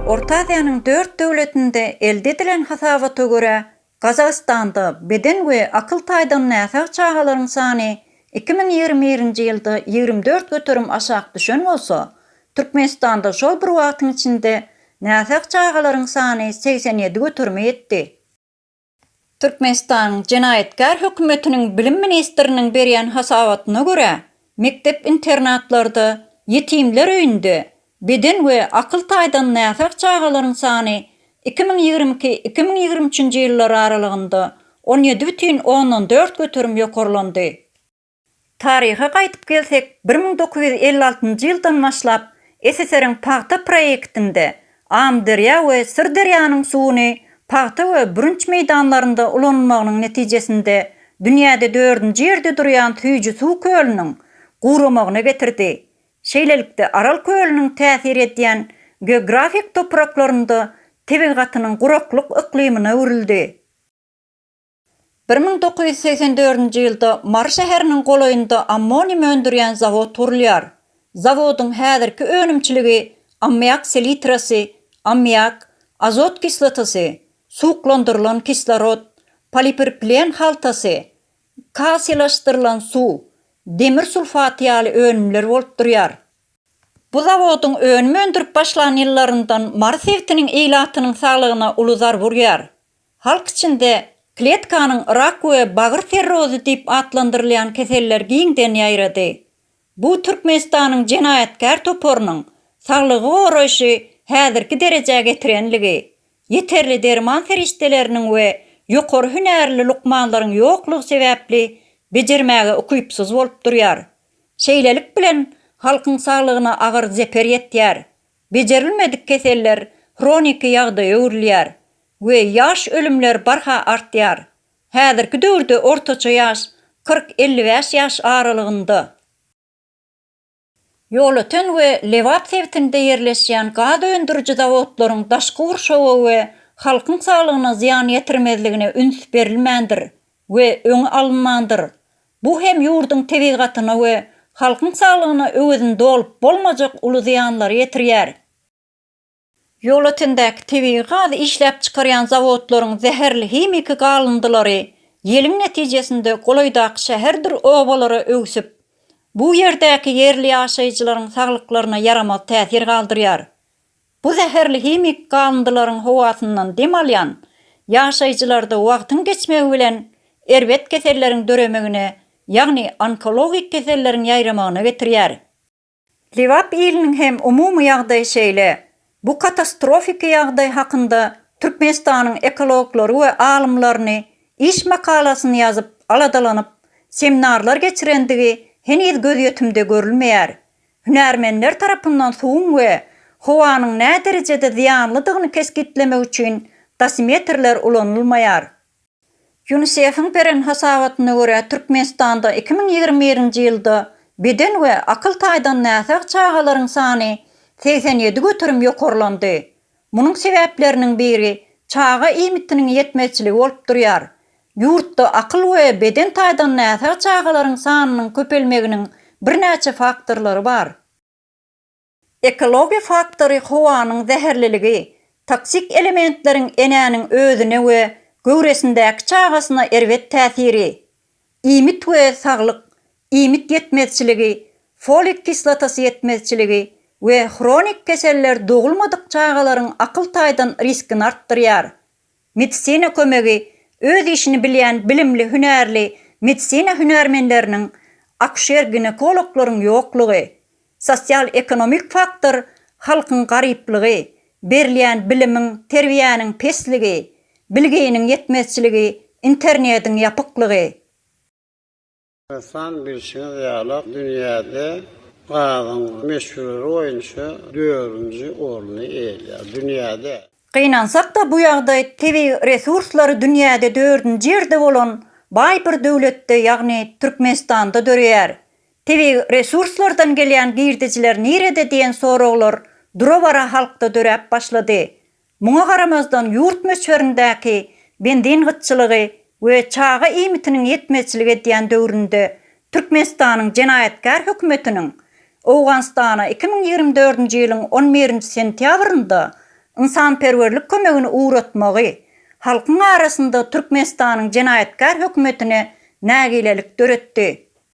Orta Aziýanyň dört döwletinde elde edilen hasabata görä, Gazagystanda beden we akyl taýdan näsag çagalaryň sany iki müň ýigrimi birinji ýylda ýigrimi dört göterim aşak düşen bolsa, Türkmenistanda şol bir wagtyň içinde näsag çagalaryň sany segsen ýedi göterime ýetdi. Türkmenistanyň jenaýatkär hökümetiniň bilim ministriniň berýän hasabatyna görä, mekdep-internatlarda, ýetimler öýünde beden we akyl taýdan näsag çagalaryň sany iki müň ýigrimi iki-iki müň ýigrimi üçünji ýyllar aralygynda on ýedi bütin ondan dört göterim ýokarlandy. Taryha gaýdyp gelsek, bir müň dokuz ýüz elli altynjy ýyldan başlap SSR-iň pagta proýektinde Amyderýa we Syrderýanyň suwuny pagta we bürünç meýdanlarynda ulanylmagynyň netijesinde dünýäde dördünji ýerde durýan süýji suw kölüniň guramagyna getirdi. Şeýlelikde, Aral kölüniň täsir edýän geografik topraklarynda tebigatynyň guraklyk yklymyna öwrüldi. Bir müň dokuz ýüz segsen dördünji ýylda Mary şäheriniň golaýynda ammonium öndürýän zawod gurulýar. Zawodyň häzirki önümçiligi ammiak selitrasy, ammiak, azot kislotasy, suwuklandyrylan kislorod, polipirplen haltasy, KASI-laşdyrylan suw, demir sulfaty ýaly önümler bolup durýar. Bu zawodyň önüm öndürip başlan ýyllaryndan Mary sebitiniň ilatynyň saglygyna uly zarb urýar. Halk içinde kletkanyň rak we bagyr serrozy diýip atlandyrylýan keseller giňden ýaýrady. Bu Türkmenistanyň jenaýatkär toparynyň saglygy goraýşy häzirki derejä getirenligi, ýeterli derman serişdeleriniň we ýokary hünärli lukmanlaryň ýoklugy sebäpli bejermäge ukypsyz bolup durýar. Şeýlelik bilen halkyň saglygyna agyr zeper ýetýär, Bejerilmedik keseller hroniki ýagdaýa öwrülýär we ýaş ölümler barha artýar. Häzirki döwürde ortaça ýaş kyrk-elli bäş ýaş aralygynda. Ýolöten we Lebap sebitinde ýerleşýän gaz öndüriji zawodlaryň daşky gurşawa we halkyň saglygyna zyýan ýetirmezligine üns berilmändir we öňi alynmandyr. Bu hem ýurduň tebigatyna we halkyň saglygyna öwezini dolup bolmajak uly zyýanlary ýetirýär. Ýolötendäki tebigy gazy işläp çykarýan zawodlaryň zäherli himiki galyndylary ýeliň netijesinde golaýdaky şäherdir obalara öwsüp, bu ýerdäki ýerli ýaşaýjylaryň saglyklaryna ýaramaz täsir galdyrýar. Bu zäherli himiki galyndylaryň howasyndan dem alýan ýaşaýjylarda wagtyň geçmegi bilen erbet keselleriň döremegine, ýagny onkologik keselleriň ýaýramagyna getirýär. Lebap iliniň hem umumy ýagdaýy şeýle. Bu katastrofiki ýagdaý hakynda Türkmenistanyň ekologlary we alymlaryny iş makalasyny ýazyp, aladalanyp, seminarlar geçirendigi heniz gözýetimde görülmeýär. Hünärmenler tarapyndan suwuň we howanyň näderejede zyýanlydygyny kesgitlemek üçin dosimetrler ulanylmaýar. Ýunisefiň beren hasabatyna görä, Türkmenistanda iki müň ýigrimi birinji ýylda beden we akyl taýdan näsag çagalaryň sany segsen ýedi göterim ýokarlandy. Munuň sebäpleriniň biri çaga iýmitiniň ýetmezçiligi bolup durýar. Ýurtda akyl we beden taýdan näsag çagalaryň sanynyň köpelmeginiň birnäçe faktorlary bar. Ekologiýa faktory howanyň zäherliligi, toksik elementleriň enäniň özüne we göwresindäki çagasyna erbet täsiri, Iýmit we saglyk, iýmit ýetmezçiligi, folik kislotasy ýetmezçiligi we hronik keseller dogulmadyk çagalaryň akyl taýdan riskini artdyrýar. Medisina kömegi, öz işini bilýän bilimli hünärli medisina hünärmenleriniň, akuşer-ginekologlaryň ýoklugy. Sosial-ekonomik faktor halkyň garyplygy, berilýän bilimiň, terbiýäniň pesligi, bilginiň ýetmezçiligi, internediň ýapyklygy. Hasan bilşiňiz ýaly dünýäde gazyň möçberi boýunça dördünji orny eýeleýär. Dünýäde. Gynansak-da bu ýagdaý tebigy resurslary dünýäde dördünji ýerde bolan baý bir döwletde ýagny Türkmenistanda döreýär. Tebigy resurslardan gelýän girdejiler nirede diýen soraglar dura-bara halkda döräp başlady. Muňa garamazdan ýurt möçberindäki benzin gytçylygy we çaga iýmitiniň ýetmezçilik edýän döwründe Türkmenistanyň jenaýatkär hökümetiniň Owganystana iki müň ýigrimi dördünji ýylyň on birinji sentýabrynda ynsanperwerlik kömegini ugratmagy halkyň arasynda Türkmenistanyň jenaýatkär hökümetine nägilelik döretdi.